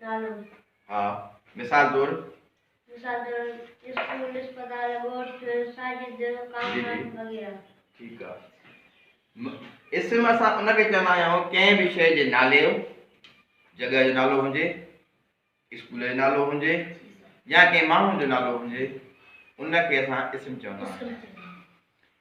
نالو. ها، مثال طور. مثال طور، اسڪول، اسپتال، ڳوٺ، ساجد، ڪامران وغيره. ٺيڪ آ. م، اسم اسان ان کي چوندا آهيون ڪنهن به شيء جي نالي جو، جڳهه جو نالو هجي، اسڪول جو نالو هجي يا ڪنهن ماڻهو جو نالو هجي، ان کي اسان اسم چوندا آهيون.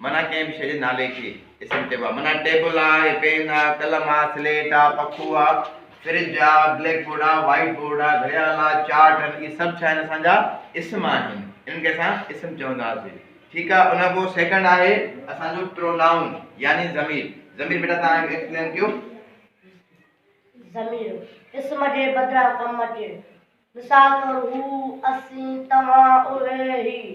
معنيٰ ڪنهن به شيء جي نالي کي اسم چئبو آهي. معنيٰ ٽيبل آ، پين آ، قلم آ، سليٽ آ، پکو آ، فرج آ، بليڪ بورڊ آ، وائيٽ بورڊ آ، گهڙيال آ، چارٽ آهن، اهي سڀ ڇا آهن اسان جا اسم آهن. انهن کي اسان اسم چونداسين. ٺيڪ آ. ان کان پوء سيڪنڊ آهي اسان جو پرونائون يعني ضمير. ضمير بيٽا توهان ايڪسپلين ڪيو. ضمير اسم جي بدران ڪم اچي. مثال طور هو، اسين، توهان، اهي، هي.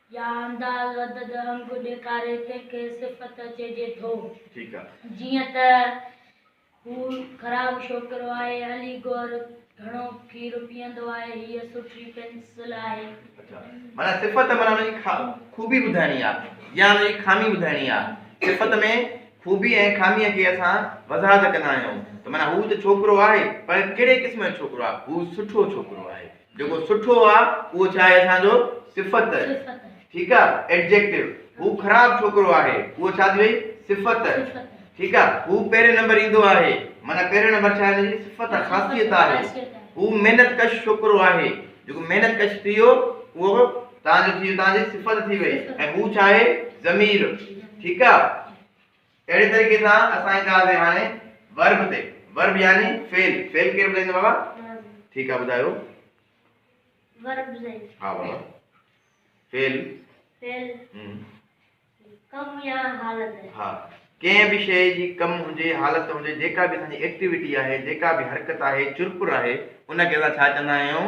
يا انداز عدد انگ ڏيکاري تنهن کي صفت چئجي ٿو. جيئن ته، هو خراب شوڪرو آهي، علي گور گهڻو کير پيئندو آهي، هيء سٺي پينسل آهي. معنيٰ صفت معنيٰ ان جي خوبي ٻڌائڻي آهي يا ان جي خامي ٻڌائڻي آهي. صفت ۾ خوبي ۽ خاميء کي اسان وضاحت ڪندا آهيون ته معنيٰ هو ته ڇوڪرو آهي پر ڪهڙي قسم جو ڇوڪرو آهي؟ هو سٺو ڇوڪرو آهي. جيڪو سٺو آ اهو ڇا آهي اسان جو صفت ٺيڪ آ ايڊجيڪٽو هو خراب ڇوڪرو آهي اهو ڇا ٿي وئي صفت ٺيڪ آ هو پهرين نمبر ايندو آهي معنی پهرين نمبر ڇا هن جي صفت خاصيت آهي هو محنت ڪش ڇوڪرو آهي جيڪو محنت ڪش ٿي ويو اهو تان جو ٿي ويو تان جي صفت ٿي وئي ۽ هو ڇا آهي ضمير ٺيڪ آ اهڙي طريقي سان اسان اينداسين هاڻي Verb تي Verb يعني فعل فعل ڪير ٻڌائيندو بابا ٺيڪ آ ٻڌايو Verb سائين ها بابا فعل فعل هم ڪم يا حالت ها ڪنهن به شيء جي ڪم هجي حالت هجي جيڪا به اسان جي ايڪٽيوٽي آهي جيڪا به حرڪت آهي چرپر آهي ان کي اسان ڇا چوندا آهيون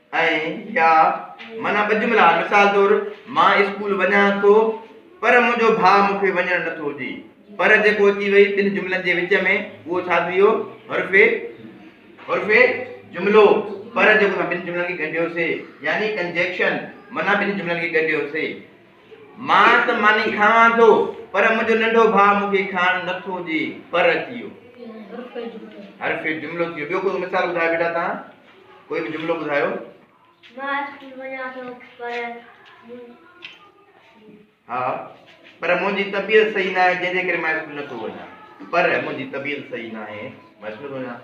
۽ يا معنيٰ ٻه جملا آهن، مثال طور، مان اسڪول وڃان ٿو پر منهنجو ڀاء مون کي وڃڻ نه ٿو ڏي. پر جيڪو اچي وئي ٻن جملن جي وچ ۾ اهو ڇا ٿي ويو؟ حرف حرف جملو، پر جيڪو اسان ٻن جملن کي ڳنڍيوسين يعني ڪنجيڪشن معنيٰ ٻن جملن کي ڳنڍيوسين. مان ته ماني کاوان ٿو پر منهنجو ننڍو ڀاء مون کي کائڻ نه ٿو ڏي پر اچي ويو. حرف جملو ٿي ويو. ٻيو ڪو مثال ٻڌايو بيٽا تان ڪوئي به جملو ٻڌايو. مان اسڪول وڃان ٿو پر ها پر منهنجي طبيعت صحيح نه آهي جنهن جي ڪري مان اسڪول نه ٿو وڃان پر منهنجي طبيعت صحيح نه آهي مان اسڪول نه ٿو وڃان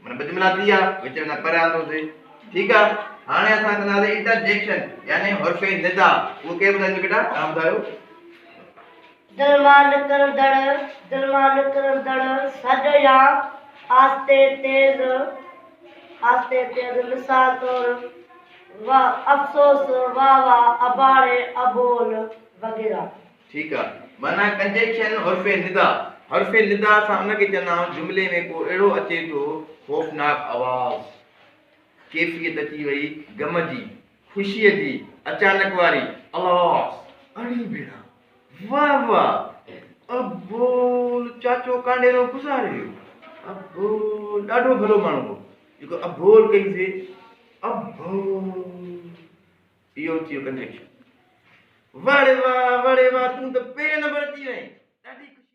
مانا ٻه جملا ٿي ويا وچ ۾ پر آندو ٿي ٺيڪ آ هاڻي اسان ڪنداسي انٽرجيڪشن يعني حرف ندا اهو ڪير ٻڌائيندو بيٽا توهان ٻڌايو. دل مان نڪرندڙ دل مان نڪرندڙ سڏ يا آهستي تيز آهستي تيز مثال طور و افسوس وا وا اباڙي ابول وغيره. ٺيڪ آ معنيٰ ڪنجيڪشن حرف ندا حرف ندا سان ان کي چوندا آهيون جملي ۾ ڪو اهڙو اچي ٿو خوفناڪ آواز. ڪيفيت اچي وئي غم جي، خوشيء جي، اچانڪ واري، الاس! اڙي ڀيڻا! واهه واهه! ابول چاچو ڪانڊيرو گذاري ويو. ابول ڏاڍو ڀلو ماڻهو هو، جيڪو ابول ڪئي سي ابول! اهو ٿيو ڪنجيڪشن. واڙي واهه! واڙي واهه! تون ته پهرين نمبر اچي وئين. ڏاڍي خوشي.